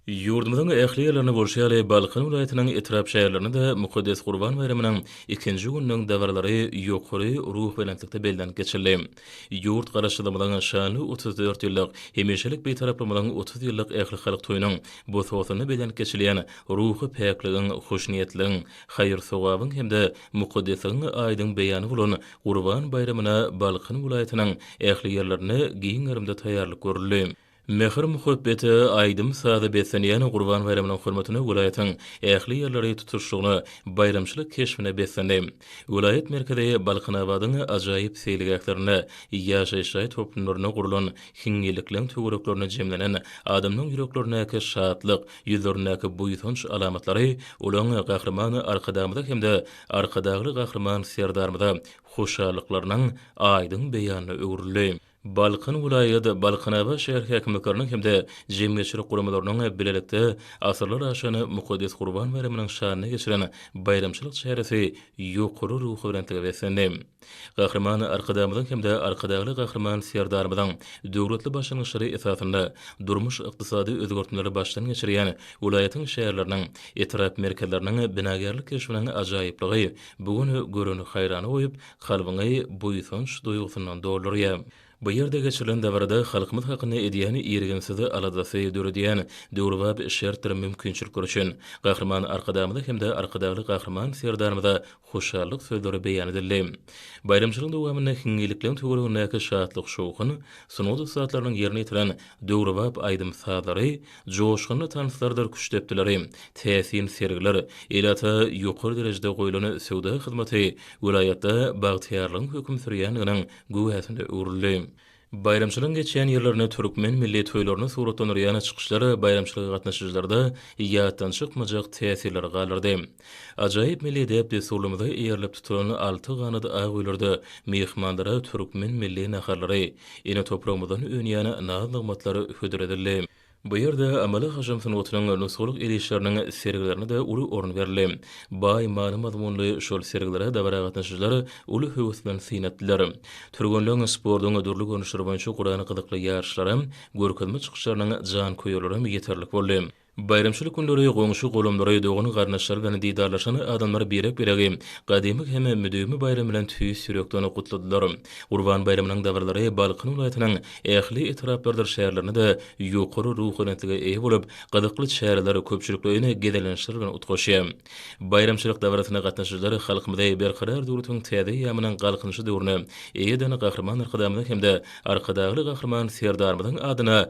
Ýurdumyzyň ähli ýerlerinde bolşy ýaly, Balkan welaýatynyň etrap-şäherlerinde-de mukaddes Gurban baýramynyň ikinji gününiň dabaralary ýokary ruhubelentlikde bellenip geçildi. Ýurt Garaşsyzlygymyzyň şanly otuz dört ýyllyk, hemişelik Bitaraplygymyzyň otuz ýyllyk ählihalk toýunyň bosgasynda bellenip geçilýän ruhy päkligiň, hoşniýetligiň, haýyr-sogabyň hem-de mukaddesligiň aýdyň beýany bolan Gurban baýramyna Balkan welaýatynyň ähli ýerlerinde giň gerimde taýýarlyk görüldi. Mähir-muhabbete, aýdym-saza beslenýän Gurban baýramynyň hormatyna welaýatyň ähli ýerleri tutuşlygyna baýramçylyk keşbine beslendi. Welaýat merkezi Balkanabadyň ajaýyp seýilgählerinde, ýaşaýyş jaý toplumlarynda gurlan hiňňillikleň töwereklerinde jemlenen adamlaryň ýüreklerindäki şatlyk, ýüzlerindäki buýsanç alamatlary olaň Gahryman Arkadagymyza hem-de Arkadagly Gahryman Serdarymyza hoşallyklarynyň aýdyň beýanyna öwrüldi. Balkan welaýat, Balkanabat şäher häkimlikleriniň hem-de jemgyýetçilik guramalarynyň bilelikde asyrlar aşan mukaddes Gurban baýramynyň şanyna geçiren baýramçylyk çäresi ýokary ruhubelentlige beslendi. Gahryman Arkadagymyzyň hem-de Arkadagly Gahryman Serdarymyzyň döwletli başlangyçlary esasynda durmuş-ykdysady özgertmeleri başdan geçirýän welaýatyň şäherleriniň, etrap merkezleriniň binagärlik keşbiniň ajaýyplygy bu gün göreni haýrana goýup, kalbyňy buýsanç duýgusyndan doldurýar. Bu ýerde geçirilen dabarada halkymyz hakynda edýän irginsiz aladasy döredýän döwrebap şertdir mümkinçilikler üçin Gahryman Arkadagymyza hem-de Arkadagly Gahryman Serdarymyza hoşallyk sözleri beýan edildi. Baýramçylygyň dowamynda hiňňilikleň töweregindäki şatlyk-şowhun, sungat ussatlarynyň ýerine ýetiren döwrebap aýdym-sazlary, Joşgunly tanslardyr küşt depdileri, täsin sergiler, ilata ýokary derejede goýlan söwda hyzmaty welaýatda bagtyýarlygyň höküm sürýändiginiň güwäsine öwrüldi. Baýramçylygyň geçýän ýerlerini türkmen milli toýlaryny suratlandyrýan çykyşlar baýramçylyga gatnaşyjylarda ýatdan çykmajak täsirleri galdyrdy. Ajaýyp milli däp-dessurlarymyza eýerilip tutulan Alty ganat ak öýlerde myhmanlara türkmen milli naharlary, ene topragymyzdan önýän naz-nygmatlar hödür edildi. Bu ýerde amaly hajam sungatynyň nusgalyk el işleriniň sergilerine-de uly orun berildi. Baý many-mazmunly şol sergilere dabara gatnaşyjylar uly höwes bilen syn etdiler. Türgenleň sportuň dürli görnüşleri boýunça guran gyzykly ýaryşlaram, görkezme çykyşlarynyň janköýerlerem ýeterlik boldy. Baýramçylyk günleri goňşy-golamlary, dogan-garyndaşlary bilen didarlaşan adamlar birek-biregi gadymy hem müdimi baýram bilen tüýs ýürekden gutladylar. Gurban baýramynyň dabaralary Balkan welaýatynyň ähli etraplarydyr şäherlerinde-de ýokary ruhubelentlige eýe bolup, gyzykly çäreler, köpçülikleýin gezelençler bilen utgaşýar. Baýramçylyk dabarasyna gatnaşyjylar halkymyzy Berkarar döwletiň täze eýýamynyň Galkynyşy döwrüne eýe eden Gahryman Arkadagymyzyň hem-de Arkadagly Gahryman Serdarymyzyň adyna